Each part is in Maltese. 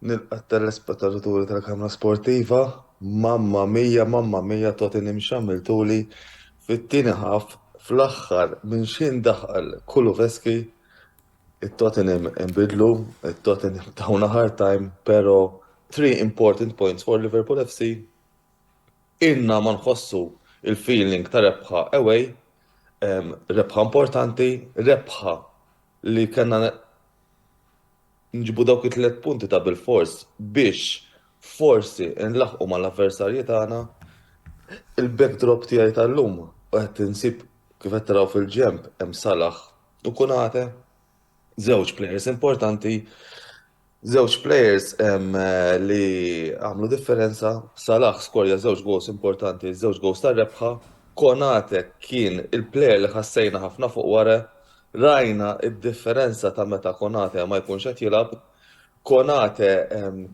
Nilqa' t-telespettaturi tal-Kamra Sportiva, Mamma Mia, Mamma Mia togħtini mxammiltuli fit-tieni half fl-aħħar minn x'ħin daħal Kulusevski, it-Tottenham inbidlu, it-Tottenham tawna hard time pero three important points for Liverpool FC, ilna ma nħossu l-feeling ta' rebħa away, rebħa importanti, rebħa li kellna Nġibu dawk it-tliet punti ta' bilfors biex forsi nlaħħqu mal-avversarji tagħna. Il-backdrop tiegħi tal-lum qed insib kif qed taraw fil-ġenb hemm Salah u Konate. Żewġ players importanti, żewġ players li għamlu differenza. Salah skorja żewġ goals importanti, żewġ goals tar-rebħa. Konate kien il-player li ħassejna ħafna fuq wara Rajna d-differenza ta' meta Konate ma jkunx qed jilgħab. Konate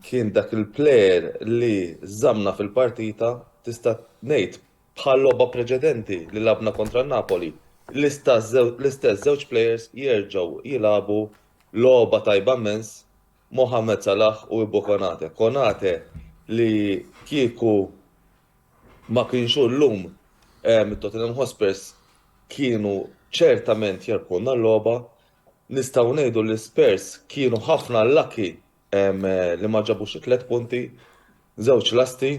kien dak il-player li żammna fil-partita, tista' ngħid bħal-logħba preċedenti li lagħabna kontra n-Napoli, l-istess żewġ players jerġgħu jilagħbu logħba tajba mmens, Mohamed Salah u Ibou Konate. Konate li kieku Ma kienx hu llum, it-Tottenham Hotspurs kienu ċertament jarbħulna l-logħba. Nistgħu ngħidu li Spurs kienu ħafna lucky li ma ġabux it-tliet punti, żewġ lasti,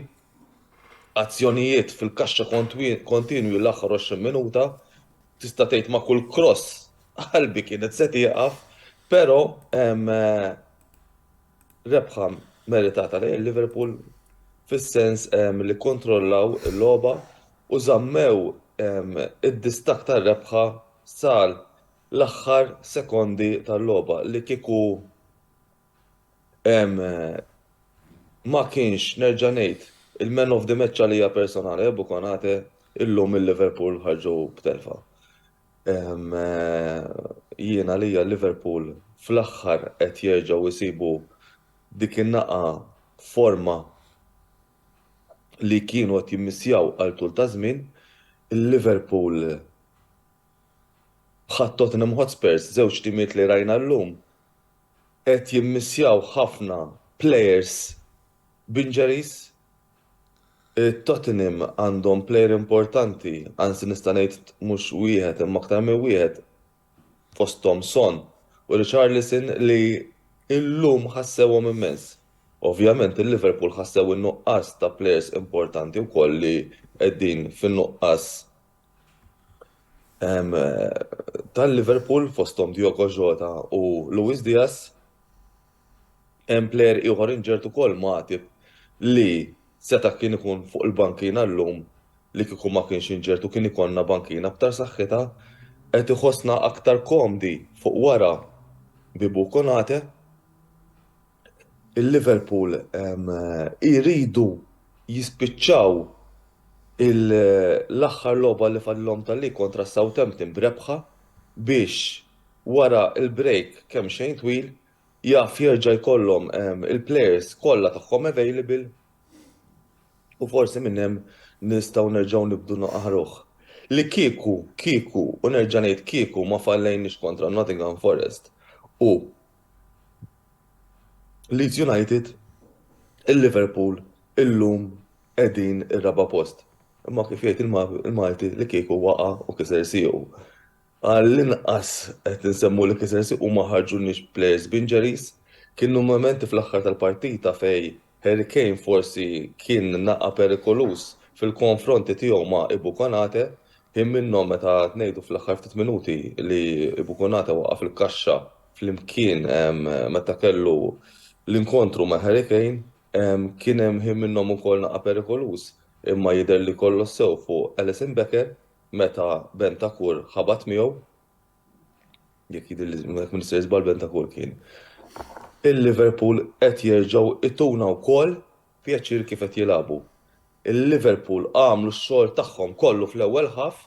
azzjonijiet fil-kaxxa kontinwi l-aħħar 20 minuta, tista' tgħid ma' kull cross qalbi kienet se tieqaf, però Rebħa meritata lejn Liverpool fis-sens li kkontrollaw il-logħba u żammew id-distakk tar-rebħa sal l-aħħar sekondi tal-logħba li kieku ma kienx nerġa' ngħid il-man of the match għalija personali Ebou Konate illum il-Liverpool ħarġu b'telfa. Jien għalija Liverpool fl-aħħar qed jerġgħu jsibu dik in-naqgħa forma li kienu qed jimmissjaw għal tul ta' żmien. Il-Liverpool bħat Tottenham Hotspurs, żewġ timiet li rajna llum, qed jimmissjaw ħafna plejers b'injuries. Tottenham għandhom plejer importanti, anzi nista' ngħid mhux wieħed imma aktar minn wieħed fosthom Son u Richarlison li llum ħassewhom immens. Ovvjament il-Liverpool ħassew in-nuqqas ta' plejers importanti wkoll li qegħdin fin-nuqqas tal-Liverpool fosthom Diogo Jota u Luis Diaz. Hemm plejer ieħor injured ukoll, Matip, li seta' kien ikun fuq il-bankina llum li kieku ma kienx injured u kien ikollna bankina aktar saħħitha. Qed iħossna aktar komdi fuq wara Bibu u Konate. Il-Liverpool jridu jispiċċaw l-aħħar logħba li fadlilhom tal-league kontra s-Southampton b'rebħa biex wara l-break kemxejn twil, jaf jerġa' jkollhom il-players kollha tagħhom available u forsi minn hemm nistgħu nerġgħu nibdu naqahruh. Li kieku, kieku, u nerġa' ngħid kieku ma fallejniex kontra Nottingham Forest u Leeds United, il-Liverpool illum qegħdin ir-raba' post. Imma kif jgħid il-Malti li kieku waqa' u kiser siequ. Għall-inqas qed insemmu li Kaizer Chiefs ma ħarġulniex b'plejers b'injuries. Kienu mumenti fl-aħħar tal-partita fejn Harry Kane forsi kien naqa' perikoluż fil-konfronti tiegħu ma' Ibou Konate. Kien minnhom meta qed ngħidu fl-aħħar ftit minuti li Ibou Konate waqaf il-kaxxa flimkien meta kellu l-inkontru ma' Harry Kane. Kien hemm ħin minnhom ukoll naqa' perikoluż imma jidher li kollox sew fuq Alisson Becker Meta Bentancur ħabat miegħu, jekk jidhirli jekk m'nista' jiżball Bentancur kien, il-Liverpool qed jerġgħu jtuna wkoll pjaċir kif qed jilagħbu. Il-Liverpool għamlu x-xogħol tagħhom kollu fl-ewwel half,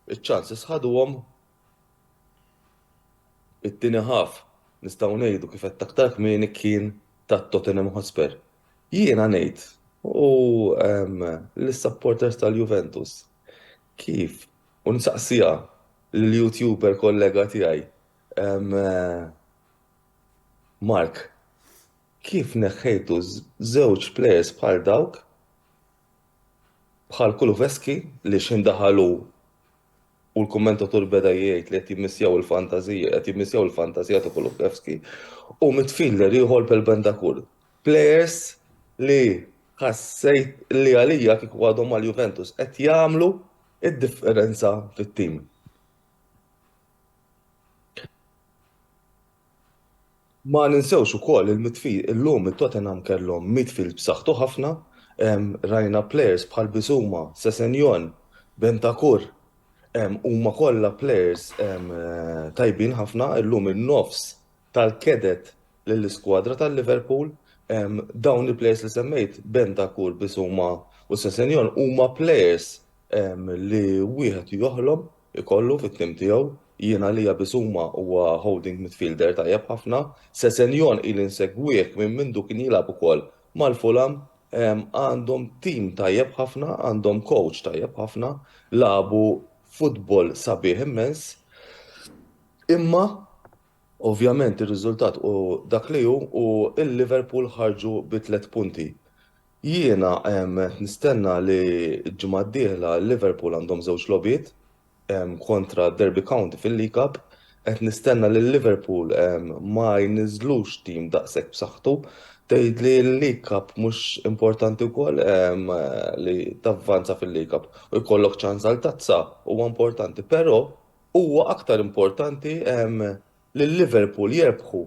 iċ-chances ħaduhom. It-tieni half nistgħu ngħidu kif għedt aktar kmieni kien ta' Tottenham Hotspur. Jiena ngħid u lis-supporters tal-Juventus Kif? U nsaqsiha lill-YouTuber kollega tiegħi, Mark, kif neħħejtu żewġ players bħal dawk, bħal Kulusevski li x'ħin daħal hu u l-kummentatur beda jgħid li qed jimmissjaw il-fantażija, qed jimmissjaw il-fantażija ta' Kulusevski, u midfielder ieħor bħal Bentancur. Plejers li ħassejt li għalija kieku għadhom mal-Juventus qed jagħmlu d-differenza fit-tim. Ma ninsewx ukoll il-midfield, illum it-Tottenham kellhom midfield b'saħħtu ħafna, rajna plejers bħal Bissouma, Sessegnon, Bentancur, huma kollha plejers tajbin ħafna, illum in-nofs tal-Cadet lill-iskwadra ta' Liverpool. Dawn il-players li semmejt, Bentancur, Bissouma u Sessegnon huma players li wieħed joħlom ikollu fit-tim tiegħu. Jien għalija Bissouma huwa holding midfielder tajjeb ħafna. Sessegnon ili nsegwih minn mindu kien jilgħab ukoll mal-Fulham. Għandhom tim tajjeb ħafna, għandhom coach tajjeb ħafna, lagħbu futbol sabiħ immens. Imma Ovvjament ir-riżultat hu dak li hu u l-Liverpool ħarġu bi tliet punti. Jiena qed nistenna li l-ġimgħa d-dieħla Liverpool għandhom żewġ logħbiet kontra Derby County fil-League Cup. Qed nistenna li Liverpool ma jniżżlux tim daqshekk b'saħħtu. Tgħidli l-League Cup mhux importanti wkoll li tavvanza fil-League Cup u jkollok ċans għal tazza huwa importanti, però Huwa aktar importanti lil Liverpool jirbħu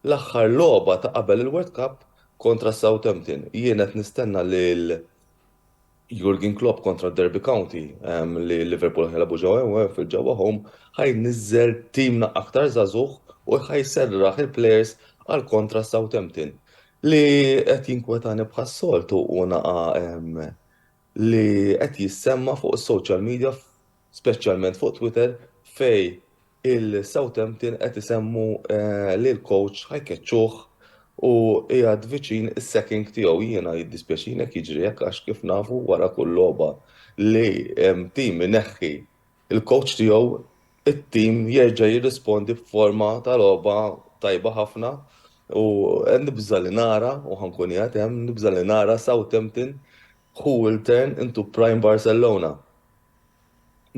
l-aħħar logħba ta' qabel il-World Cup kontra s-Southampton. Jien qed nistenna lil Jurgen Klopp kontra d-Derby County li Liverpool ħa jilagħbu ġewwa Anfield ġewwa home, ħa jniżżel timna aktar żagħżugħ u ħa jserraħ il-plejers għal kontra s-Southampton. Li qed jinkwetani bħas-soltu hu naqa' li qed jissemma' fuq is-social media speċjalment fuq Twitter fejn il-Southampton qed isemmu li l-coach ħa jkeċċuh u qiegħed viċin is-sacking tiegħu. Jiena jiddispjaċini jekk jiġri hekk għax kif nafu wara kull logħba li tim ineħħi l-coach tiegħu t-tim jerġa' jirrispondi b'forma ta' logħba tajba ħafna u nibża' li nara, u ħa nkun qiegħed hemm, nibża' li nara Southampton who will turn into prime Barcelona.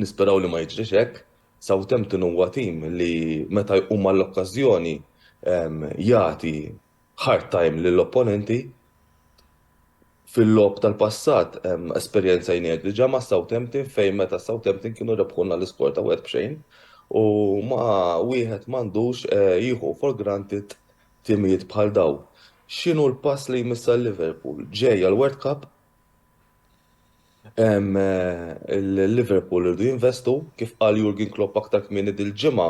Nisperaw li ma jiġrix hekk. Southampton huwa tim li meta jqum għall-okkażjoni jagħti hard time lill-opponenti. Fil-logħob tal-passat esperjenzajnieh diġà ma' Southampton fejn meta Southampton kienu rebħulna l-iskor ta' wieħed b'xejn u ma wieħed m'għandux jieħu for granted timijiet bħal dawn. X'inhu l-pass li jmiss għal Liverpool? Ġej għall-World Cup? Il-Liverpool irdu jinvestu, kif qal Jurgen Klopp aktar kmieni dil-ġimgħa,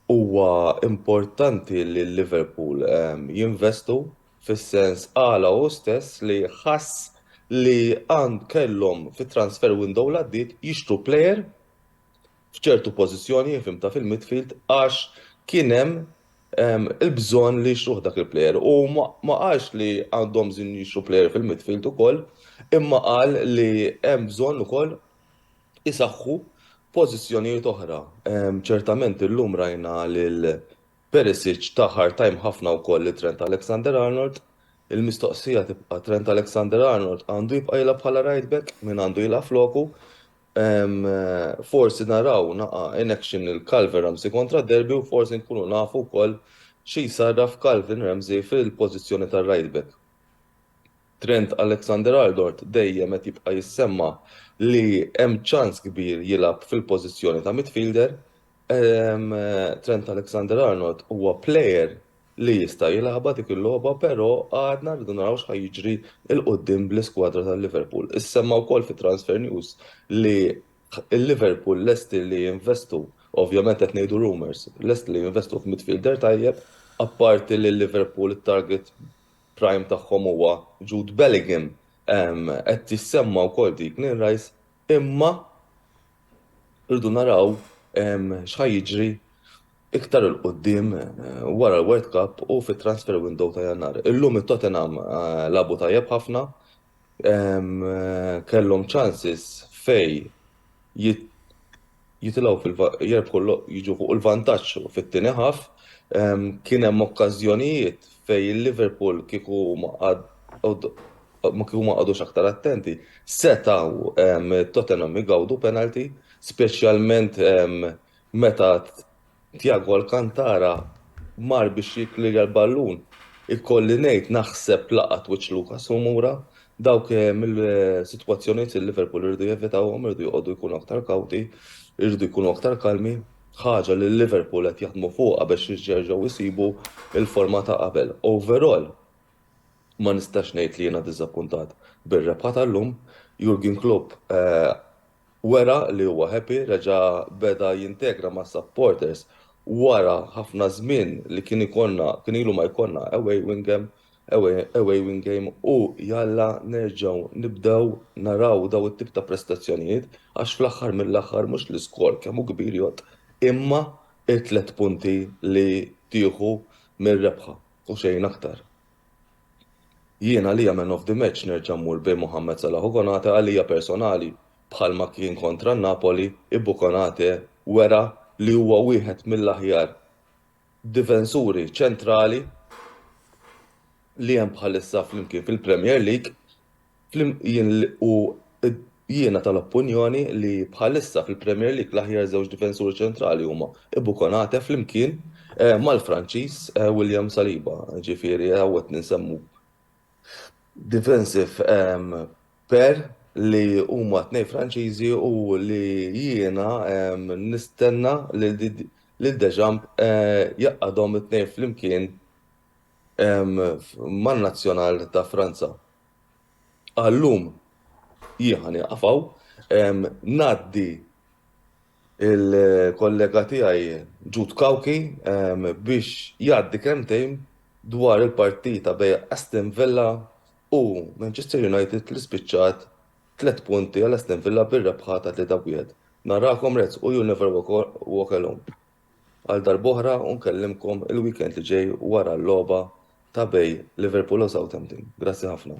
huwa importanti li l-Liverpool jinvestu fis-sens qala hu stess li ħass li kellhom fit-transfer window li għaddiet jixtru plejer f'ċertu pożizzjoni infimta fil-midfield għax kien hemm il-bżonn li jixtruh dak il-plejer u ma qalx li għandhom bżonn jixtru plejer fil-midfield ukoll imma qal li hemm bżonn ukoll isaħħu pożizzjonijiet oħra. Ċertament illum rajna lil Perisic ta hard time ħafna wkoll lil Trent Alexander-Arnold. Il-mistoqsija tibqa' Trent Alexander-Arnold għandu jibqa' jilgħab bħala right back? Min għandu jilgħab floku? Forsi naraw naqa' in action lil Calvin Ramsey kontra Derby u forsi nkunu nafu wkoll xi jsarraf Calvin Ramsey fil-pożizzjoni ta' right back. Trent Alexander-Arnold dejjem qed jibqa' jissemma' li hemm ċans kbir jilgħab fil-pożizzjoni ta' midfielder. Trent Alexander-Arnold huwa plejer li jista' jilagħbha dik il-logħba però għadna rridu naraw x'ħa jiġri 'l quddiem bl-iskwadra ta' Liverpool. Issemma wkoll fi Transfer News li Liverpool lesti li jinvestu, ovvjament qed ngħidu rumours, lesti li jinvestu f'midfielder tajjeb, apparti li Liverpool it-target prime tagħhom huwa Jude Bellingham, qed tissemma wkoll Declan Rice Imma rridu naraw x'ħa jiġri iktar 'il quddiem wara l-World Cup u fit-transfer window ta' Jannar. Illum it-Tottenham lagħbu tajjeb ħafna, kellhom chances fejn jitilgħu fil jerbħu jiġu fuq il-vantaġġ fit-tieni ħaf. Kien hemm okkażjonijiet fejn il-Liverpool kieku ma kieku ma qagħdux aktar attenti, setgħu Tottenham igawdu penalty, speċjalment meta Tiago Alcantara mar biex jikkliria l-ballun. Ikolli ngħid naħseb laqat wiċċ Lucas Romura. Dawk mill-sitwazzjonijiet li Liverpool irridu jevitawhom, irridu joqogħdu jkunu aktar kawti, irridu jkunu aktar kalmi, ħaġa li Liverpool qed jaħdmu fuqha biex jerġgħu jsibu l-forma ta' qabel. Overall, ma nistax ngħid li jiena diżappuntat bir-rebħa tal-lum. Jurgen Klopp Wera li huwa happy, reġa' beda jintegra mas-supporters wara ħafna żmien li kien ikollna, kien ilu ma jkollna away win game, away win game u jalla nerġgħu nibdew naraw dawn it-tip ta' prestazzjonijiet għax fl-aħħar mill-aħħar mhux l-iskor kemm hu kbir jgħodd imma t-tliet punti li tieħu mir-rebħa u xejn aktar. Jien għalija man of the match nerġa' mmur bejn Mohamed Salah u Konate għalija personali bħalma kien kontra n-Napoli Ibou Konate wera li huwa wieħed mill-aħjar difensuri ċentrali li hemm bħalissa flimkien fil-Premier League. U jiena tal-oppunjoni li bħalissa fil-Premier League l-aħjar żewġ difensuri ċentrali huma Ibou Konate flimkien mal-Franċiż William Saliba, ġifieri hawn qed insemmu defensive pair li huma tnejn Franċiżi u li jiena nistenna lil Deschamps jgħaqqadhom it-tnejn flimkien man-Nazzjonal ta' Franza. Għal-lum jien ħa nieqaf hawn. Ngħaddi il-kollega tiegħi Jude Cauchi biex jgħaddi kelmtejn dwar il-partita bejn Aston Villa u Manchester United li spiċċat tliet punti għal Aston Villa bir-rebħa ta' 3-1. Narakom Reds u you never walk alone. Għal darb'oħra u nkellimkom il-weekend li ġej wara l-logħba ta' bej Liverpool u Southampton. Grazzi ħafna.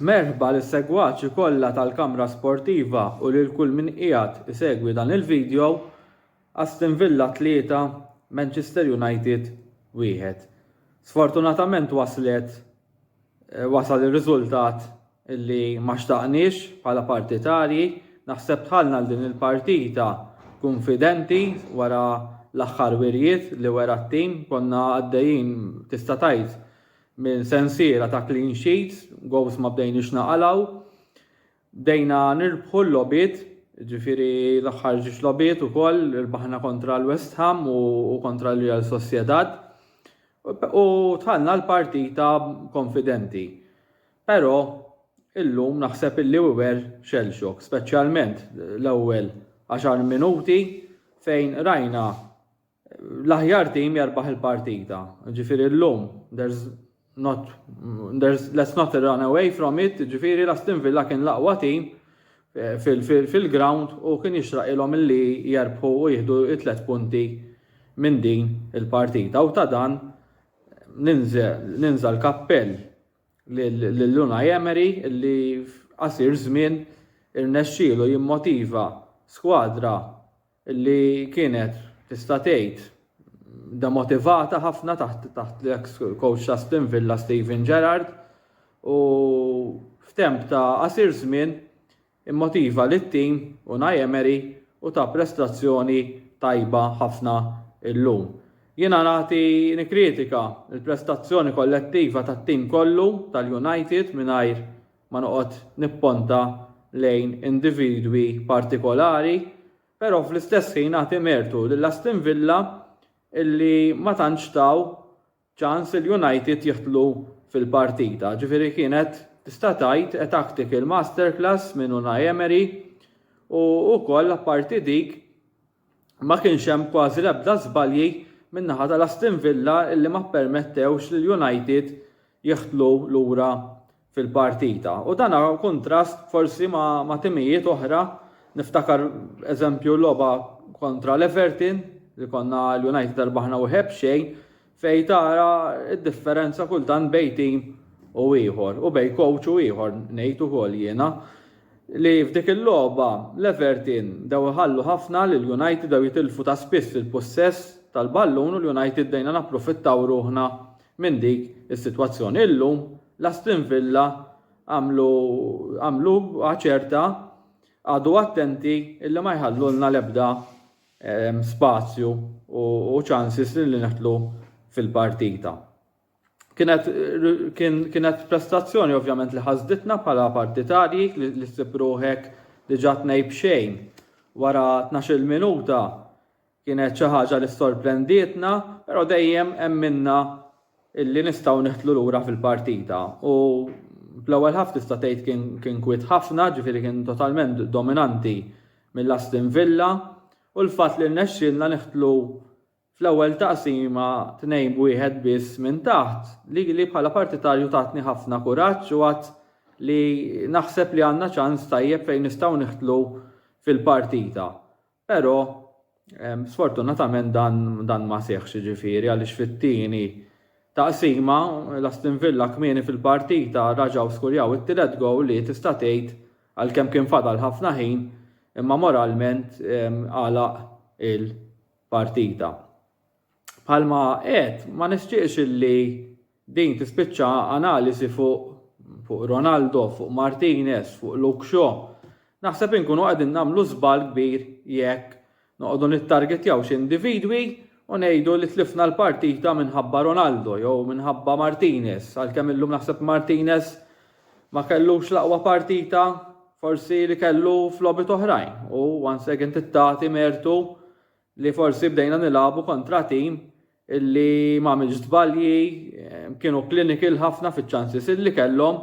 Merħba lis segwaċi kollha tal-Kamra Sportiva u lil kull min qiegħed isegwi dan il-video Aston Villa 3 Manchester United 1. Sfortunatament waslet wasal ir-riżultat li ma xtaqniex bħala partitarji. Naħseb dħalna għal din il-partita kunfidenti wara l-aħħar wirjiet li wera t-tim. Konna għaddejjin tista' tgħid minn sensiela ta' clean sheets, goals ma bdejniex naqalgħu. Bdejna nirbħu l-logħbiet, jiġifieri l-aħħar ġiex logħbiet ukoll irbaħna kontra l-West Ham u kontra l-Real Sociedad u dħalna l-partita konfidenti. Però illum naħseb illi we were shell shock, speċjalment l-ewwel għaxar minuti fejn rajna L-aħjar tim jarbaħ il-partita. Ġifiri l-lum, there's not, there's, let's not run away from it, ġifiri l-Aston Villa kien laqwa tim eh, fil-ground u kien jixraq ilhom li jarbħu u jihdu it-tlet punti minn din il-partita. U ta' dan ninża l-kappell l-Luna Emery li f'qasir żmien irnexxielu jimmotiva skwadra li kienet tista' tgħid demotivata ħafna taħt taħt l-ex coach ta' Aston Villa Steven Gerrard u f'temp ta' qasir żmien immotiva lit-tim u Emery u ta' prestazzjoni tajba ħafna illum. Jiena nagħti nikkritika l-prestazzjoni kollettiva tat-tim kollu tal-United mingħajr ma noqgħod nipponta lejn individwi partikolari, però fl-istess ħin nagħti mertu lil Aston Villa illi ma tantx taw ċans lil United jidħlu fil-partita. Ġifieri kienet tista' tgħid a tactical masterclass minn Unai Emery u wkoll apparti dik ma kienx hemm kważi l-ebda żbalji min-naħa tal-Aston Villa illi ma ppermettewx lil United jidħlu lura fil-partita u dan b'kuntrast forsi ma' timijiet oħra, niftakar eżempju logħba kontra l-Everton li konna l-United rebaħna wieħed b'xejn Fejn tara d-differenza kultant bejn tim u ieħor, u bejn kowċ u ieħor ngħid ukoll jiena, li f'dik il-logħba l-Everton bdew iħallu ħafna lill-United, bdew jitilfu ta' spiss il-pussess tal-ballun u l-United bdejna napprofittaw ruħna minn dik is-sitwazzjoni. Illum l-Aston Villa għamlu għamluha ċerta, qagħdu attenti illi ma jħallulna l-ebda spazju u ċansis li neħtlu fil-partita. Kienet prestazzjoni ovvjament li ħasditna bħala partitarji li ssib ruħek diġà tnej b'xejn wara 12-il minuta kienet xi ħaġa li sorprendietna, però dejjem emminna li nistgħu neħtlu lura fil-partita u fl-ewwel ħaf tista' tgħid kien kien kwiet ħafna, ġifieri kien totalment dominanti mill-Aston Villa u l-fatt li rnexxielna neħtlu fl-ewwel taqsima tnejn b'wieħed biss minn taħt li li bħala partitarju tatni ħafna kuraġġ u għadd li naħseb li għandna ċans tajjeb fejn nistgħu neħtlu fil-partita. Però sfortunatament dan, dan ma seħħx ġifieri għaliex fit-tieni taqsima l-Aston Villa kmieni fil-partita raġgħu skurjaw it-tielet gowl li tista' tgħid għalkemm kien fadal ħafna ħin imma moralment għalaq il-partita. Bħalma għedt, ma nixtieqx illi din tispiċċa analiżi fuq fuq Ronaldo, fuq Martinez, fuq Luke Shaw. Naħseb inkunu qegħdin nagħmlu żball kbir jekk noqogħdu nittargetjaw xi individwi u ngħidu li tlifna l-partita minħabba Ronaldo jew minħabba Martinez, għalkemm illum naħseb Martinez ma kellux l-aqwa partita forsi li kellu f'logħbiet oħrajn u once again tittati mertu li forsi bdejna nilagħbu kontra tim li m'għamilx żbalji, kienu clinical ħafna fiċ-chances li kellhom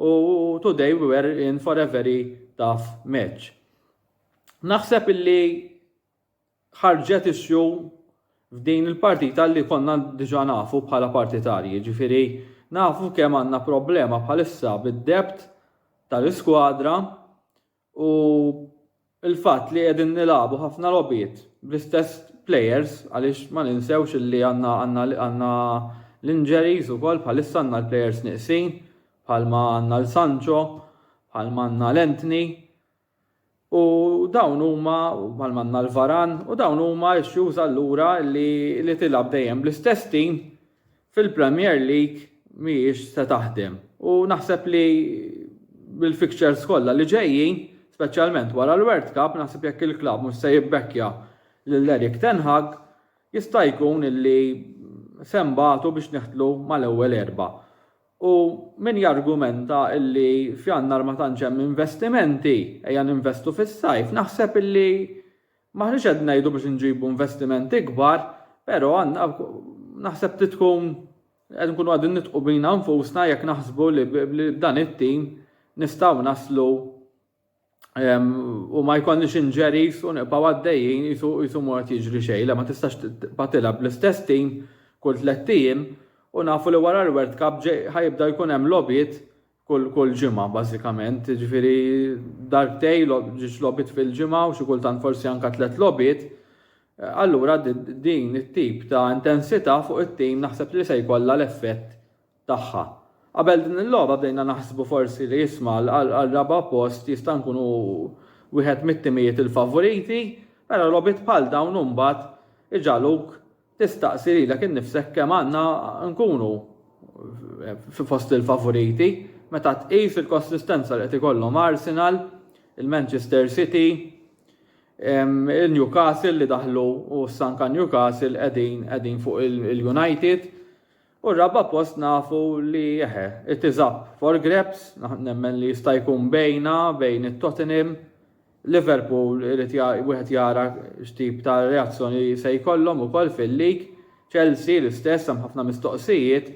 u today we were in for a very tough match. Naħseb illi ħarġet issue f'din il-partita li konna diġa nafu bħala partitarji, ġifiri nafu kemm għandna problema bħalissa bid-debt tal-iskwadra U il-fatt li qegħdin nilagħbu ħafna logħbiet bl-istess players għaliex ma ninsewx li għandna għandna għandna l-injuries ukoll bħalissa għandna l-players nieqsin bħalma għandna l-Sancho, bħalma għandna l-Anthony. U dawn huma bħalma għandna l-Varan u dawn huma issues allura li li tilab dejjem bl-istess tim Fil-Premier League mhijiex se taħdem u naħseb li bil-fixtures kollha li ġejjin, speċjalment wara l-World Cup, naħseb jekk il-klabb mhux se jibbekkja lil Erik ten Hag, jista' jkun li se nbatu biex neħtlu mal-ewwel erbgħa. U min jargumenta li f'Jannar ma tantx hemm investimenti, ejja ninvestu fis-sajf, naħseb li M'aħniex qed ngħidu biex inġibu investiment ikbar, però għandna naħseb trid tkun qed nkunu qegħdin nitqu bina nfusna jekk naħsbu li b'dan it-tim nistgħu naslu u ma jkollniex injuries u nibqgħu għaddejjin qisu ma qed jiġri xejn. Le ma tistax tibqa' tilgħab bl-istess tim kull tlett ijiem u nafu li wara l-World Cup ħajibda jkun hemm logħbiet kull kull ġimgħa bażikament, jiġifieri darbtej ġiex logħbiet fil-ġimgħa u xi kultant forsi anke tliet logħbiet, eh, allura din it-tip ta' intensità fuq it-tim naħseb li se jkollha l-effett tagħha. Qabel din il-logħba bdejna naħsbu forsi li jisma' għal raba' post jista' nkunu wieħed mit-timijiet il-favoriti, però logħbiet bħal dawn imbagħad iġaluk Tistaqsi lilek innifsek kemm għandna nkunu fi fost il-favoriti meta tqis il-konsistenza li qed ikollhom Arsenal, il-Manchester City, il-Newcastle li daħlu u s-sanka Newcastle qegħdin fuq il-United. U r-raba' post nafu li eħe, it is up for grabs, nemmen li jista' jkun bejna, bejn it-Tottenham, Liverpool irid wieħed jara x'tip ta' reazzjoni se jkollhom ukoll fil-lig, Chelsea l-istess hemm ħafna mistoqsijiet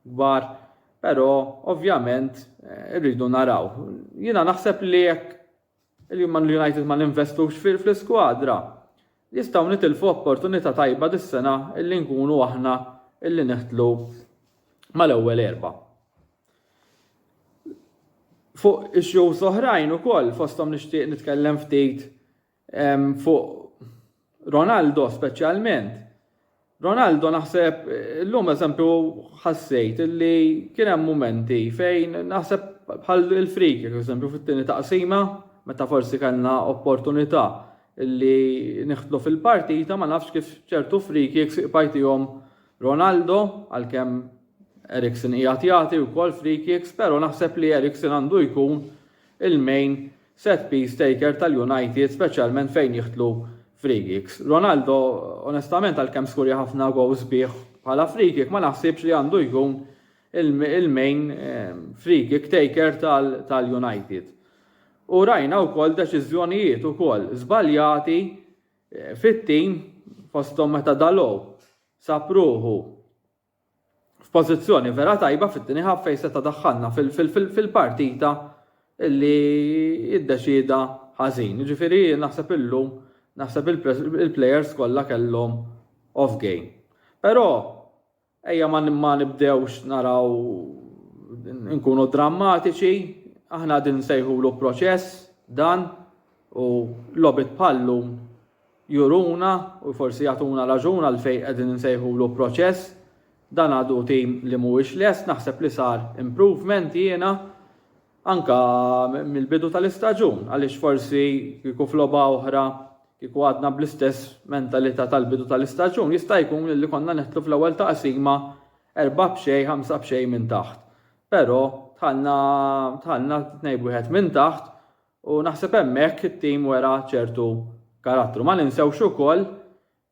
kbar, però ovvjament irridu naraw. Jiena naħseb li jekk li Man United ma ninvestux fl-iskwadra, nistgħu nitilfu opportunità tajba dis-sena illi nkunu aħna illi niħtlu mal-ewwel erbgħa. Fuq issues oħrajn ukoll fosthom nixtieq nitkellem ftit fuq Ronaldo speċjalment. Ronaldo naħseb illum eżempju ħassejt li kien hemm mumenti fejn naħseb bħal il-frik, eżempju fit-tieni taqsima, meta forsi kellna opportunità li niħtlu fil-partita ma nafx kif ċertu friki jek siqpajtijom Ronaldo għal-kem Eriksen ijat jati u kol friki jek pero naħseb li Eriksen għandu jkun il-main Set piece taker tal-United speċjalment fejn jidħlu free kicks. Ronaldo onestament għalkemm skurja ħafna goal sbieħ bħala free kick ma naħsibx li għandu jkun il-main free kick taker tal-United. U rajna wkoll deċiżjonijiet ukoll żbaljati fit-tim fosthom meta Dalot sab ruħu f'pożizzjoni vera tajba fit-tieni half fejn seta' daħħalna fil-partita li iddeċieda ħażin. Jiġifieri naħseb illum naħseb il-plejers kollha kellhom off game. Però ejja ma nibdewx naraw inkunu drammatiċi, aħna qegħdin nsejħulu proċess dan u logħbiet bħal-lum juruna u forsi jagħtuna raġun għalfejn qegħdin insejħulu proċess. Dan għadu tim li mhuwiex lest, naħseb li sar improvement jiena anke mill-bidu tal-istaġun għaliex forsi kieku f'logħba oħra kieku għadna bl-istess mentalità tal-bidu tal-istaġun jista' jkun li konna neħtlu fl-ewwel taqsima erba' b'xejn, ħamsa b'xejn minn taħt. Però tħallna tħallna tnejn b'wieħed minn taħt U naħseb hemmhekk it-tim wera ċertu karattru. Ma ninsewx ukoll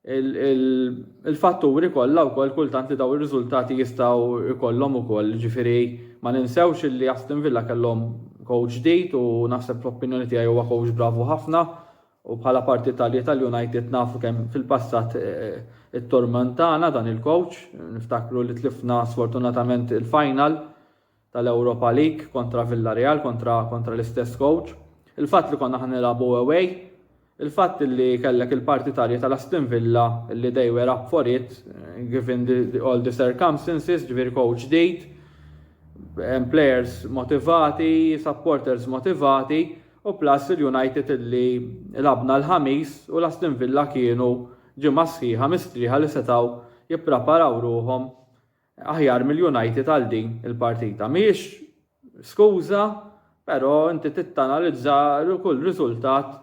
il-fatturi kollha wkoll kultant li daw ir-riżultati jistgħu jkollhom ukoll. Ġifieri ma ninsewx li Aston Villa kellhom coach ġdid u naħseb fl-opinjoni tiegħi huwa coach bravu ħafna u bħala parti tal-United nafu kemm fil-passat eh, it-tormentana dan il-coach, niftakru li tlifna sfortunatament il-final tal-Europa League kontra Villareal, kontra kontra l-istess coach, il-fatt li konna ħa nilagħbu away, il-fatt li kellek il-partitarji tal-Aston Villa li they were up for it given the, the, all the circumstances, ġifieri coach ġdid, players motivati, supporters motivati, u plus il-United li labna l-ħamis u l-Aston Villa kienu ġimgħa sħiħa mistrieħa li setaw jippreparaw ruhom Aħjar mill-United għal din il-partita. Mhijiex skuża, però inti tittanalizza kull riżultat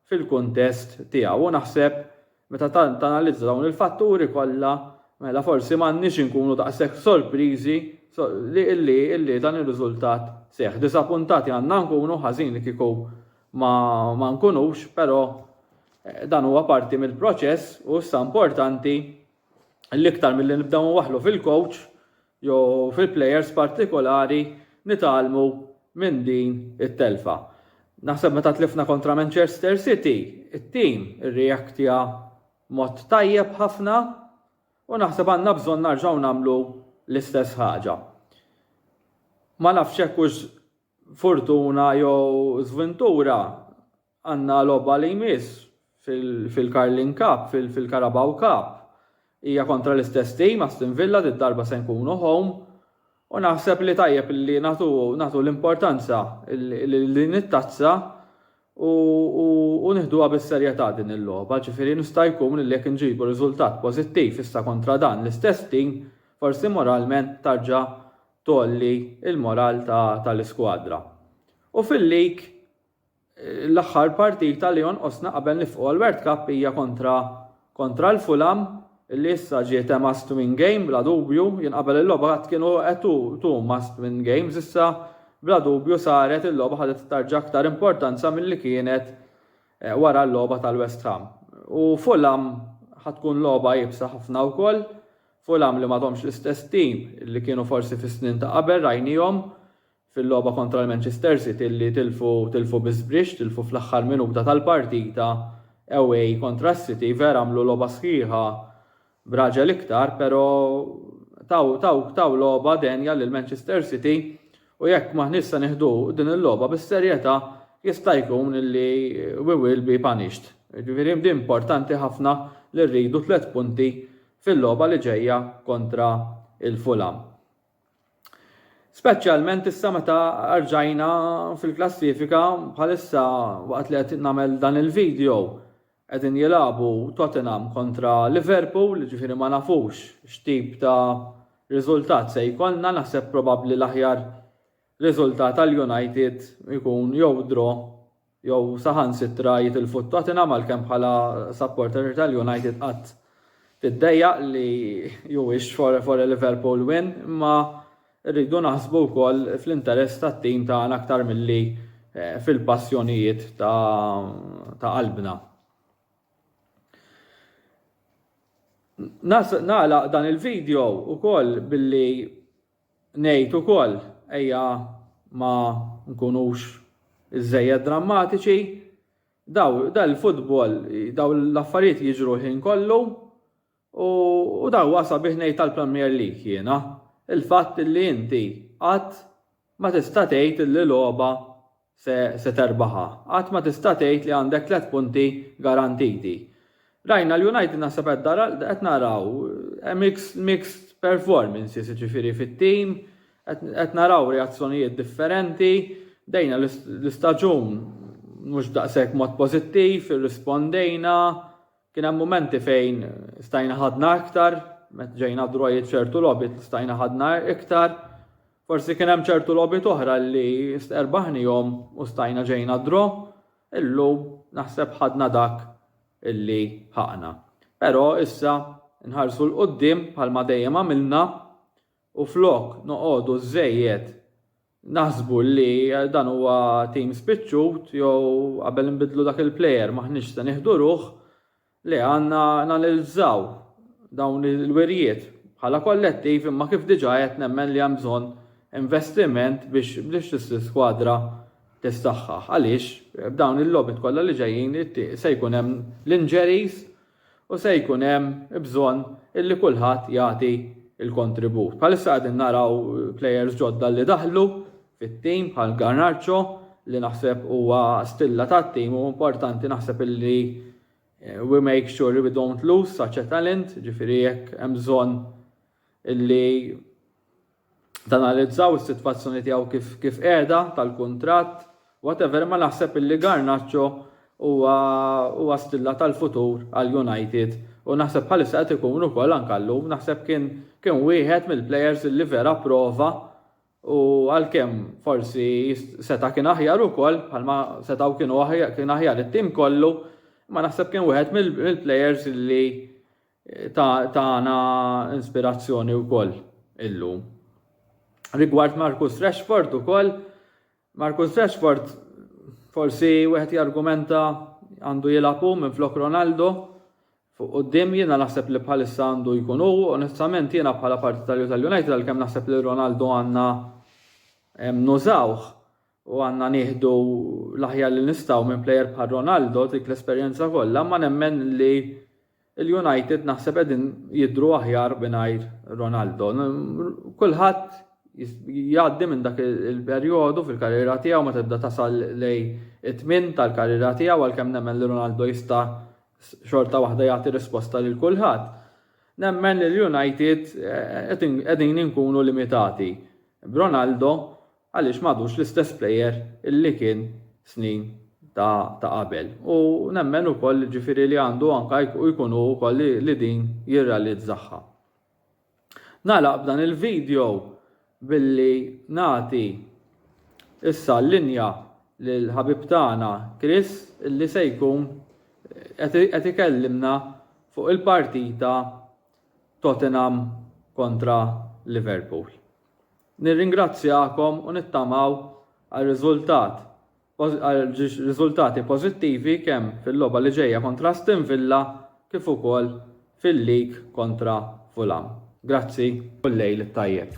fil-kuntest tiegħu u naħseb meta tanalizza dawn il-fatturi kollha mela forsi m'għandniex inkunu daqshekk sorpriżi li illi illi dan ir-riżultat seħħ. Disapuntati għandna nkunu ħażin li kieku ma, ma nkunux, però eh, dan huwa parti mill-proċess u issa importanti l-iktar milli nibdew nwaħħlu fil-coach jew fil-players partikolari nitgħallmu minn din it-telfa. Naħseb meta tlifna kontra Manchester City, it-tim irreactja mod tajjeb ħafna u naħseb għandna bżonn narġgħu nagħmlu l-istess ħaġa. Ma nafx hekk hux fortuna jew żvintura Għandna logħba li jmiss fil-Carling Cup, fil-Carabao Cup. Hija kontra l-istess tim, Aston Villa, did-darba se nkunu home u naħseb li tajjeb li nagħtu l-importanza lil din it-tazza u nieħduha bis-serjetà din il-logħba. Ġifieri jista' jkun li jekk inġibu riżultat pożittiv issa kontra dan l-istess tim, forsi moralment tarġa' tgħolli l-moral tal-iskwadra. U fil-League, L-aħħar partita li jonqosna qabel nifqu għall-World Cup hija kontra kontra l-Fulham li issa ġiet a must win game bla dubju, jien qabel il-logħba għadt kienu a two two must win games issa bla dubju saret il-logħba ħadet tarġa' aktar importanza milli kienet wara l-logħba tal-West Ham. U Fulham ħa tkun logħba iebsa ħafna wkoll, Fulham li m'għadhomx l-istess team li kienu forsi fis-snin ta' qabel rajnihom fil-logħba kontra l-Manchester City li tilfu tilfu bi żbrixx, tilfu fl-aħħar minuta tal-partita away kontra s-City, vera għamlu logħba sħiħa b'raġel iktar, però taw taw taw logħba denja lil Manchester City u jekk maħniex se nieħdu din il-logħba bis-serjetà jista' jkun li we will be punished. Ġifieri di importanti ħafna li rridu tliet punti fil-logħba li ġejja kontra il-Fulham. Speċjalment issa meta rġajna fil-klassifika bħalissa waqt li qed nagħmel dan il-video qegħdin jilagħbu Tottenham kontra Liverpool, ġifieri ma nafux x'tip ta' riżultat se jkollna, naħseb probabbli l-aħjar riżultat għal United ikun jew draw jew saħansitra jitilfu t-Tottenham għalkemm bħala supporter tal-United qatt tiddejjaq li you wish for for a Liverpool win imma rridu naħsbu wkoll fl-interess tat-tim tagħna aktar milli fil-passjonijiet ta' ta' qalbna. Nagħlaq dan il-video wkoll billi Ngħid ukoll, ejja ma nkunux iżżejjed drammatiċi, daw dan il-futbol, daw l-affarijiet jiġru l-ħin kollu u u daw huwa sabiħ ngħid tal-Premier League jiena, il-fatt li inti qatt ma tista' tgħid li logħba se se terbaħha. Qatt ma tista' tgħid li għandek tliet punti garantiti. Rajna l-United naħseb qed dara qed naraw eh, mixed, mixed performances ġifieri fit-tim, qed naraw reazzjonijiet differenti, dejna l-istaġun mhux daqshekk mod pożittiv, irrispondejna, kien hemm momenti fejn stajna ħadna iktar, met ġejna drojit ċertu lobit stajna ħadna iktar, Forsi kien hemm ċertu logħbiet oħra li sterbaħnihom u stajna ġejna draw, illum naħseb ħadna dak li ħaqna. Però issa nħarsu 'l quddiem bħalma dejjem għamilna u flok noqogħdu żżejjed naħsbu li dan huwa tim spiċċut jew qabel inbiddlu dak il-plejer m'aħniex se nieħdu ruħ, Le, għandna nanalizzaw dawn il-wirjiet bħala kollettiv imma kif diġà għedt nemmen li hemm bżonn investiment biex l-iskwadra tissaħħaħ għaliex b'dawn il-logħbiet kollha li ġejjin se jkun hemm l-injuries u se jkun hemm bżonn illi kulħadd jagħti l-kontribut. Bħalissa qegħdin naraw players ġodda li daħlu fit-tim bħal Garnacho li naħseb huwa stilla tat-tim u importanti naħseb illi we make sure we don't lose such a talent, ġifieri jekk hemm bżonn illi tanalizzaw is-sitwazzjoni tiegħu kif kif qiegħda tal-kuntratt, whatever imma naħseb illi Garnacho huwa huwa stilla tal-futur għal United u naħseb bħalissa qed ikun ukoll anke llum naħseb kien kien wieħed mill-players illi vera prova U għalkemm forsi seta' kien aħjar ukoll, bħalma setgħu kienu kien aħjar it-tim kollu, ma naħseb kien wieħed mill-plejers li tagħna inspirazzjoni wkoll illum. Rigward Marcus Rashford ukoll, Marcus Rashford forsi wieħed jargumenta għandu jilgħab hu minflok Ronaldo fuq quddiem jiena naħseb li bħalissa għandu jkun hu onestament jiena bħala partitarju tal-United għalkemm naħseb li Ronaldo għandna nużawh u għandna nieħdu l-aħjar li nistgħu minn plejer bħal Ronaldo dik l-esperjenza kollha ma nemmen li Il-United naħseb qegħdin jidhru aħjar mingħajr Ronaldo. Kulħadd jgħaddi minn dak il-perjodu fil-karriera tiegħu meta tibda tasal lejn it-tmien tal-karriera tiegħu għalkemm nemmen li Ronaldo jista' xorta waħda jagħti risposta lil kulħadd. Nemmen li l-United eh, qegħdin inkunu limitati b'Ronaldo għaliex m'għadux l-istess plejer li kien snin ta' ta' qabel u nemmen ukoll ġifieri li għandu anke jkun hu wkoll li li din jirrealizzaha. Nagħlaq b'dan il-video billi nagħti issa l-linja lil ħabib tagħna Chris li se jkun qed qed ikellimna fuq il-partita Tottenham kontra Liverpool. Nirringrazzjakom u nittamaw għal riżultat għal riżultati pożittivi kemm fil-logħba li ġejja kontra Aston Villa kif ukoll fil-League kontra Fulham. Grazzi u l-lejl it-tajjeb.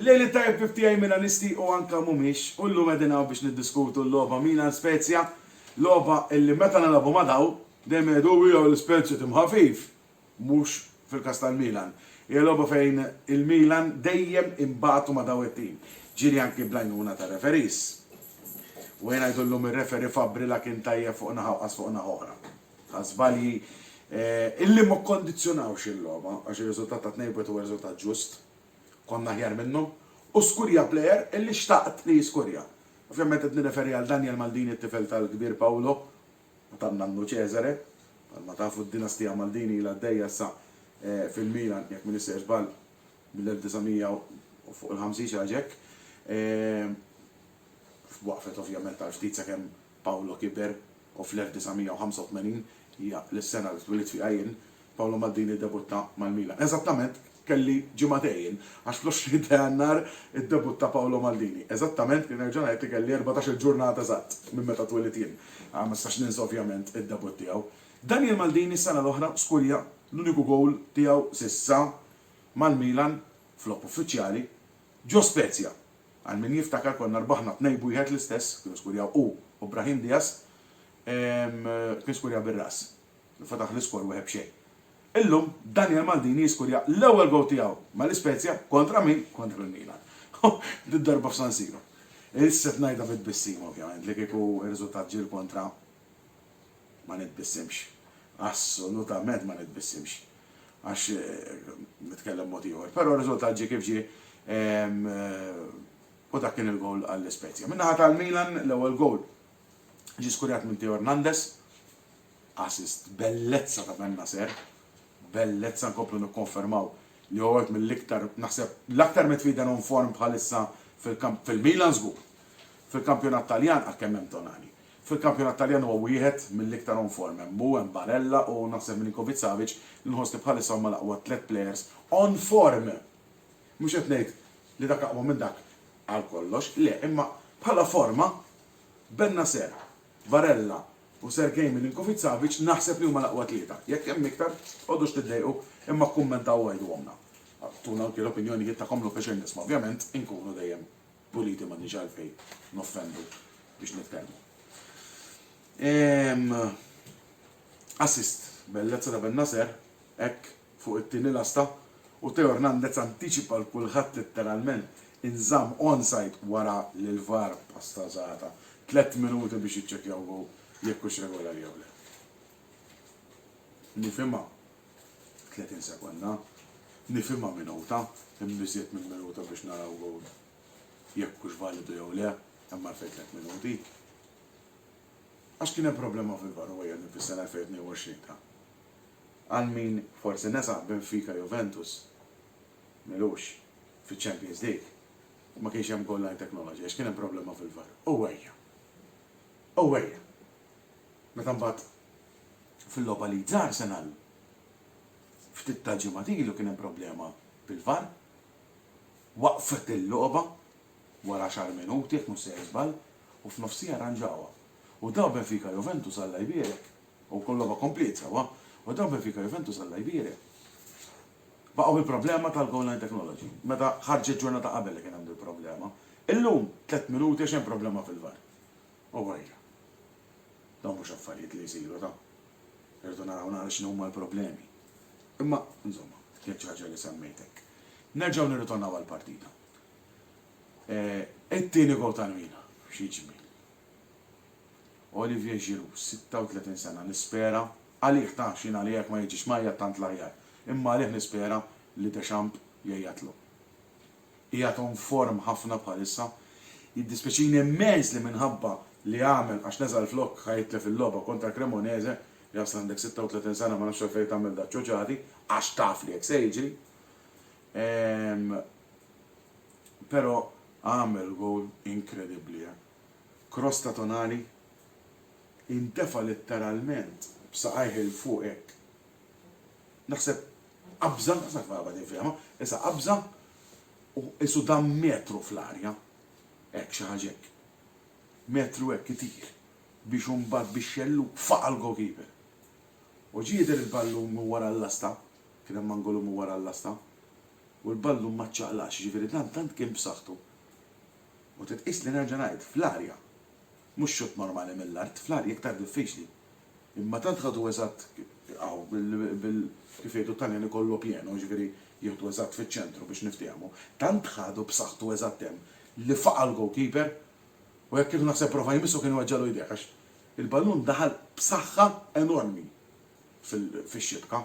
Lejl it-tajjeb kif tiegħi Milanisti u anke mhumiex, u llum qegħdin hawn biex niddiskutu l-logħba Milan-Spezia, logħba illi meta nilagħbu ma' dawn, dejjem jgħidu hu jew l-Spezia tim ħafif, mhux fil-każ tal-Milan. Hija logħba fejn il-Milan dejjem inbagħtu ma' daw it-tim, ġieli anki bl-għajnuna tar-referees. U ejja ngħidu llum ir-referee Fabbri la kien tajjeb fuq naħa u qas fuq naħa oħra. Ħa żbalji illi ma kkondizzjonawx il-logħba għax ir-riżultat ta' 2-1 huwa riżultat ġust. Konna aħjar minnhom u skurja plejer illi xtaqt li jiskurja. Ovvjament qed nirreferi għal Daniel Maldini t-tifel tal-kbir Paolo. u tan-nannu Cesare. Bħalma tafu d-dinastija Maldini ilha għaddejja issa fil-Milan, jekk ma nissejrx żball, mill-1900 u fuq il-50 xi ħaġa hekk. Waqfet ovvjament għal ftit sakemm Paolo kiber u fl-1985, hija l-sena li twilidt fiha jien, Paolo Maldini ddebutta mal-Milan. Eżattament, kelli ġimagħtejn, għax fl-20 ta' Jannar iddebutta Paolo Maldini. Eżattament, nerġa' ngħid li kelli erbatax-il ġurnata eżatt minn meta twelidt jien. Ma nistax ninsa ovvjament id-debutt tiegħu. Daniel Maldini s-sena l-oħra skurja l-uniku gowl tiegħu s'issa mal-Milan f'logħob uffiċjali ġo Spezia. Għal min jiftakar konna rbaħna tnejn b'wieħed l-istess, kienu skurjaw hu u Brahim Diaz, kien skurja bir-ras. Fetaħ l-iskor wieħed b'xejn. Illum, Daniel Maldini jiskurja l-ewwel gowl tiegħu mal-Ispezia kontra min? Kontra l-Milan. U did-darba f'San Siro. Issib ngħidha bi tbissima ovvjament li kieku r-riżultat ġie l-kontra ma nitbissimx. Assolutament ma nitbissimx. Għax nitkellem mod ieħor. Però r-riżultat ġie kif ġie u dak kien il-gowl għall-Ispezia. Min-naħa tal-Milan l-ewwel gowl ġie skurjat minn Theo Hernandez. Assist, bellezza ta' Ben-Nasser, bellezza nkomplu nikkonfermaw li huwa wieħed mill-iktar, naħseb, l-aktar midfielder on form bħalissa fil-kamp, fil-Milan żgur. Fil-kampjonat Taljan, ah kemm hemm Tonali. Fil-kampjonat Taljan huwa wieħed mill-iktar on form, hemm hu, hemm Barella u naħseb Milinkovic-Savic li nħoss li bħalissa huma l-aqwa tliet players on form! Mhux qed ngħid li dak aqwa minn dak għal kollox, le, imma bħala forma Ben-Nasser Barella u Sergei Milinkovic-Savic naħseb li huma l-aqwa tlieta. Jekk hemm iktar, tqogħdux tiddejqu imma kkummentaw u għidhuhomlna. Agħtuna anki l-opinjonijiet tagħkom hu pjaċir nisma'. Ovvjament inkunu dejjem puliti m'għandniex għalfejn noffendu biex nitkellmu. Ehm Assist, bellezza ta' Bennacer, hekk fuq it-tieni lasta, u Theo Hernandez antiċipa 'l kulħadd litteralment, inżamm onside wara li l-VAR pasta żgħata tliet minuti biex jiċċekkjaw gowl jekk hux regolari jew le. Nifhimha tletin sekonda, nifhimha minuta, imma iżjed minn minuta biex naraw gowl jekk hux validu jew le, hemm għalfejn tliet minuti. Għax kien hemm problema fil-VAR u ejja nifissha l-2022 ta. Għal min forsi nesa, Benfica Juventus m'ilux fiċ-Champions League u ma kienx hemm goal line technology għax kien hemm problema fil-VAR. Owwejja! Owwejja! Meta mbagħad fil-logħba Leeds Arsenal, ftit tal-ġimgħat ilu kien hemm problema bil-VAR, waqfet il-logħba wara għaxar minuti jekk mhux sejjer żball u f'nofsiha rranġawha. U daw Benfica Juventus Alla jbierek U wkoll logħba kompliet sewwa u dan Benfica Juventus Alla jbierek. Baqgħu bi problema tal-goal line technology meta ħarġet ġurnata qabel li kien hemm dil-problema. Illum tliet minuti għax hemm problema fil-var. Owwajja. Dawn mhux affarijiet li jsiru ta'. Irridu naraw naqra x'inhuma l-problemi. Imma, insomma, jekk xi ħaġa li semmejt hekk. Nerġgħu nirritornaw għall-partita. It-tieni goal tal-Milan. Xi ġmiel. Olivier Giroud, 36 sena, Nispera, għalih ta' x'jien għalija jekk ma jiġix mgħajjat tant l-aħjar, imma għalih nispera li Deschamps jgħajjatlu. Qiegħed on form ħafna bħalissa. Jiddispjaċini immens li minħabba li għamel għax neża' l-flokk ħa jitlef il-logħba kontra Cremonese, jasal għandek 36 sena ma nafx għalfejn tagħmel daċ-ċoċati, għax taf li hekk se jiġri. Ehm, però għamel gowl inkredibbli, eh. f'krosta tonali, intefa' litteralment b'saqajh 'il fuq hekk. Naħseb qabża, ma nafx kif qed infehimha, issa qabża u qisu dam metru fl-arja. Hekk, xi ħaġa hekk. Metru hekk itir biex imbagħad bix-xellug faqa' l-goalkeeper. U ġie jidher il-ballun minn wara l-lasta, kien hemm angolu minn wara l-lasta, u l-ballun ma ċċaqlaqx, jiġifieri dan tant kien b'saħħtu U titqies li nerġa' ngħid, fl-arja. Mhux xutt normali mill-art, fl-arja iktar diffiċli. Imma tant ħadu eżatt hawn bil, kif jgħidu t-Taljani collo pieno, jiġifieri jieħdu eżatt fiċ-ċentru biex niftiehmu, tant ħadu b'saħħtu eżatt hemm li faqa' l-goalkeeper u hekk kieku naħseb prova jmissu kien iweġġagħlu jdejh għax il-ballun daħal b'saħħa enormi fix-xibka.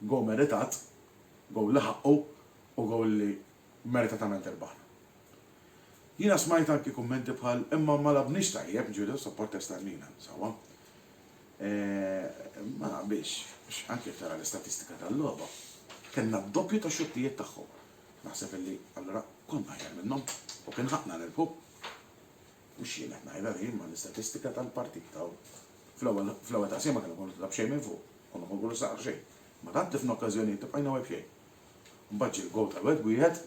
Goal meritat, goal li ħaqqu u goal li meritatament irbaħna. Jiena smajt anki kummenti bħal imma ma lagħbniex tajjeb, ġifieri issa pprotesta għalina, sewwa. Eeh, ma naqbilx, għax anki jekk tara l-istatistika tal-logħba, kellna d-doppju ta' xuttijiet tagħhom. Naħseb illi allura konna aħjar minnhom u kien ħaqqna nirbħu. Mhux jien qed ngħidha din imma l-istatistika tal-partita u fl-ewwel fl-ewwel taqsima kellna nkunu ta' b'xejn minn fuq, konna nkunu saqna xejn. Imma tant tlifna okkażjonijiet li bqajna webxejn. Mbagħad ġie l-goal tal-wet b'wieħed.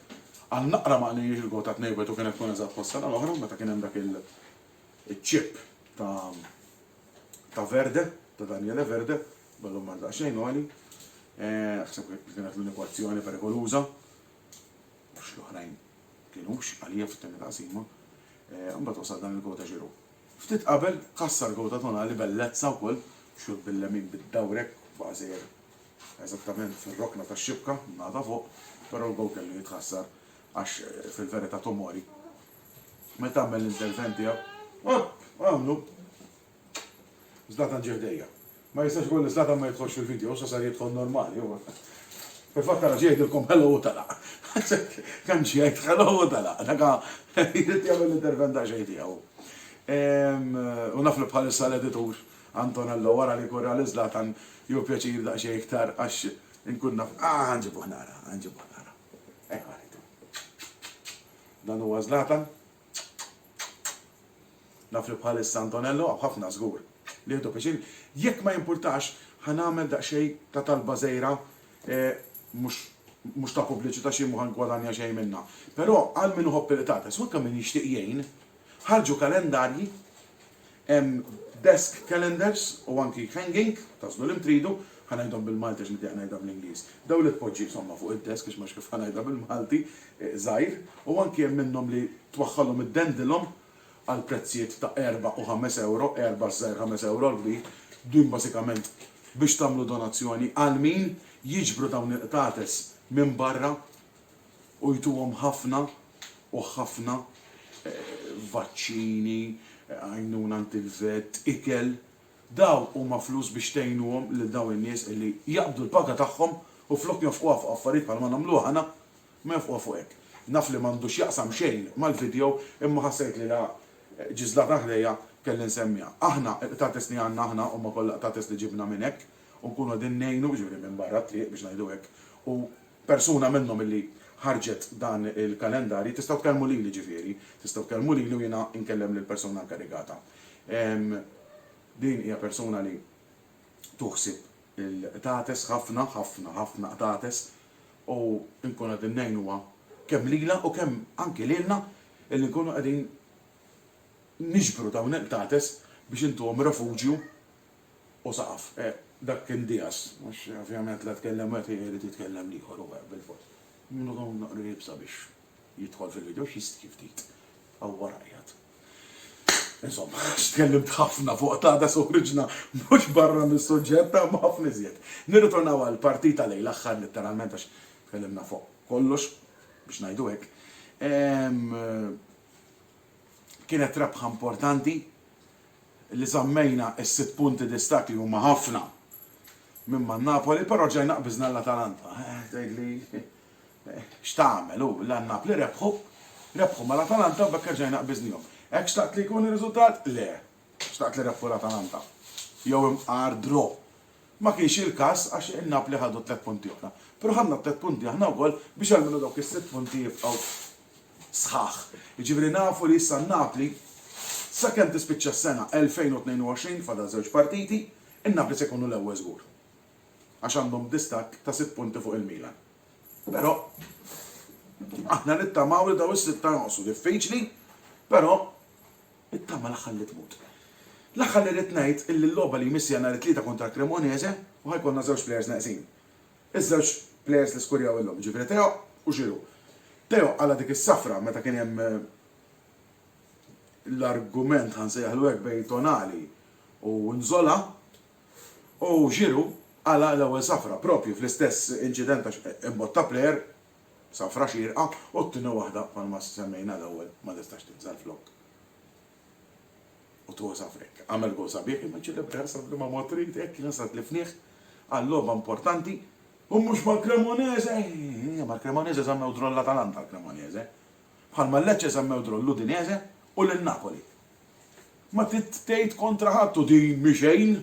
Għal naqra ma qlejniex il-goal ta' tnejn wieħed u kienet tkun eżatt bħas-sena l-oħra meta kien hemm dak iċ-chip ta' ta' Verde, ta' Daniele Verde, ballun mar daqsxejn għoli. Eh, ħseb kienet l-uniku azzjoni perikoluża. Mhux l-oħrajn kienux għalija fit-tieni taqsima. Eh, mbagħad wasal dan il-goal ta' Ġiru. Ftit qabel kassar goal ta' Tonali bellezza wkoll, xut bil-lemin bid-dawrek bażejjed eżattament fir-rokna tax-xibka ngħada fuq, però l-gowl kellu jitħassar għax fil-verità Tomori meta għamel l-intervent tiegħu, opp! għamlu Zlatan ġie ħdejja. Ma jistax ikun li Zlatan ma jidħolx fil-video, sa sar jidħol normali huwa. Fil-fatt ara ġie jgħidilkom hello u telaq. Kemm ġie jgħid hello u telaq, dak jrid jagħmel l-intervent daqsxejn tiegħu. U naf li bħalissa l-editur Antonello, Wara li jkun ra lil Zlatan jieħu pjaċir daqsxejn iktar għax inkun naf. Ah, ħa nġibuh nara, ħa nġibuh nara. Ejja ħallitu. Dan huwa Zlatan. Naf li bħalissa Antonello hawn ħafna żgur li jieħdu pjaċir. Jekk ma jimpurtax, ħa nagħmel daqsxejn ta' talba żgħira mhux mhux ta' pubbliċità xi mhu ħa ngwadanja xejn minnha. Però għal min iħobb il-qtates u anke min jixtieq jgħin, ħarġu kalendarji Hemm desk calendars u anki hanging, tagħżlu li mtridu, ħa ngħidhom bil-Malti għax nitieq ngħidha bl-Ingliż. Dawn li tpoġġi insomma fuq id-desk għax m'hemmx kif ħa ngħidha bil-Malti, żgħir, u anki hemm minnhom li twaħħalhom iddendilhom għal prezzijiet ta' erbgħa u ħames ewro, erbgħa ż-żgħir ħames ewro l-kbir, din basikament biex tagħmlu donazzjoni għal min jiġbru dawn il-qtates minn barra. u jtuhom ħafna u ħafna vaċċini, għajnuna għand il-vet, ikel, dawn huma flus biex tgħinuhom lil dawn in-nies illi jaqbdu l-paga tagħhom u flok jonfquha fuq affarijiet bħalma nagħmlu aħna, ma jonfquha fuq hekk. Naf li m'għandu x'jaqsam xejn mal-video imma ħassejt li la ġiżlata ħdejja kelli nsemmiha. Aħna il-qtates li għandna aħna huma kollha qtates li ġibna minn hekk u nkunu qegħdin ngħinu, jiġifieri minn barra t-triq biex ngħidu hekk, u Persuna minnhom illi ħarġet dan il-kalendarji, tistgħu tkellmu lili ġifieri, tistgħu tkellmu lili u jiena nkellem lill-persuna inkarigata. Din hija persuna li tu ħsieb il-qtates ħafna, ħafna, ħafna qtates u nkunu qegħdin ngħinuha kemm lilha u kemm anki lilna illi nkunu qegħdin niġbru dawn il-qtates biex intuhom refuġju u saqaf. Dak kien Diaz, għax ovvjament la tkellem wieħed u jrid jitkellem l-ieħor u hekk bilfors. Min hu dawn l-qrib sabiex jidħol fil-video, x'jistħi ftit. Hawn wara qiegħed. Insomma, għax tkellimt ħafna fuq Tata se uħriġna mhux barra mis-suġġett ta' imma ħafna iżjed. Nirritornaw għall-partita lejn l-aħħar litteralment għax tkellimna fuq kollox, biex ngħidu hekk. Kienet rebħa importanti li żammejna s-sitt punti distakk li huma ħafna minn man-Napoli, però ġajna qbiżna l-Atalanta. Tgħidli x'tagħmel hu, la n-Napli rebħu, rebħu mal-Atalanta u b'hekk erġajna qbiżnihom. Hekk xtaqt li jkun ir-riżultat? Le. Xtaqt li rebħu l-Atalanta. Jew imqar draw. Ma kienx il-każ għax in-Napli ħadu t-tliet punti oħra. Però ħadna t-tliet punti aħna wkoll biex almenu dawk is-sitt punti jibqgħu sħaħ. Jiġifieri nafu li issa n-Napli sakemm tispiċċa s-sena 2022, fadal żewġ partiti, in-Napli se jkunu l-ewwel żgur. Għax għandhom distakk ta' sitt punti fuq il-Milan. Però aħna nittamaw li dawn is-sitta jonqsu. Diffiċli, però it-tama l-aħħar li tmut. L-aħħar li rrid ngħid illi l-logħba li jmiss hija nhar it-Tlieta kontra Cremonese u ħa jkollna żewġ plejers neqsin. Iż-żewġ plejers li skurjaw illum, jiġifieri Theo u Giroud. Theo qala' dik is-safra meta kien hemm l-argument, ħa nsejjaħlu hekk, bejn Tonali u Nzola, u Giroud qala' l-ewwel safra proprju fl-istess inċident għax imbotta plejer, safra xierqa, u t-tieni waħda bħalma semmejna l-ewwel ma tistax tinżel flokk. u tgozha f'hekk. Agħmel gowl sabiħ imma ċċelebrah sa f'liema mod trid, hekk kien sa tlifnieh għal logħba importanti. U mhux mal-Cremonese! Eeh, mal-Cremonese żammew draw l-Atalanta l-Cremonese. Bħalma l-Lecce żammew draw l-Udinese u lil Napoli. Ma trid tgħid kontra ħadd u din mhi xejn!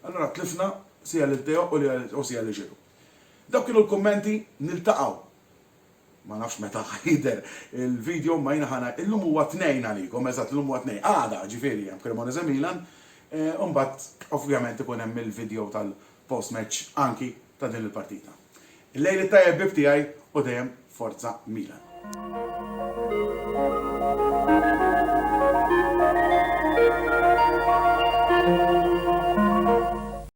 Allura tlifna sia lil Teo u sia lil Giroud. Dawk kienu l-kummenti, niltaqgħu Ma nafx meta ħa jidher il-video imma jiena ħa ngħid, illum huwa Tnejn għalikom, eżatt illum huwa Tnejn, għada ġifieri hemm Cremonese Milan, u mbagħad ovvjament ikun hemm il-video tal-post match anki ta' din il-partita. Il-lejl it-tajjeb ħbieb tiegħi u dejjem Forza Milan.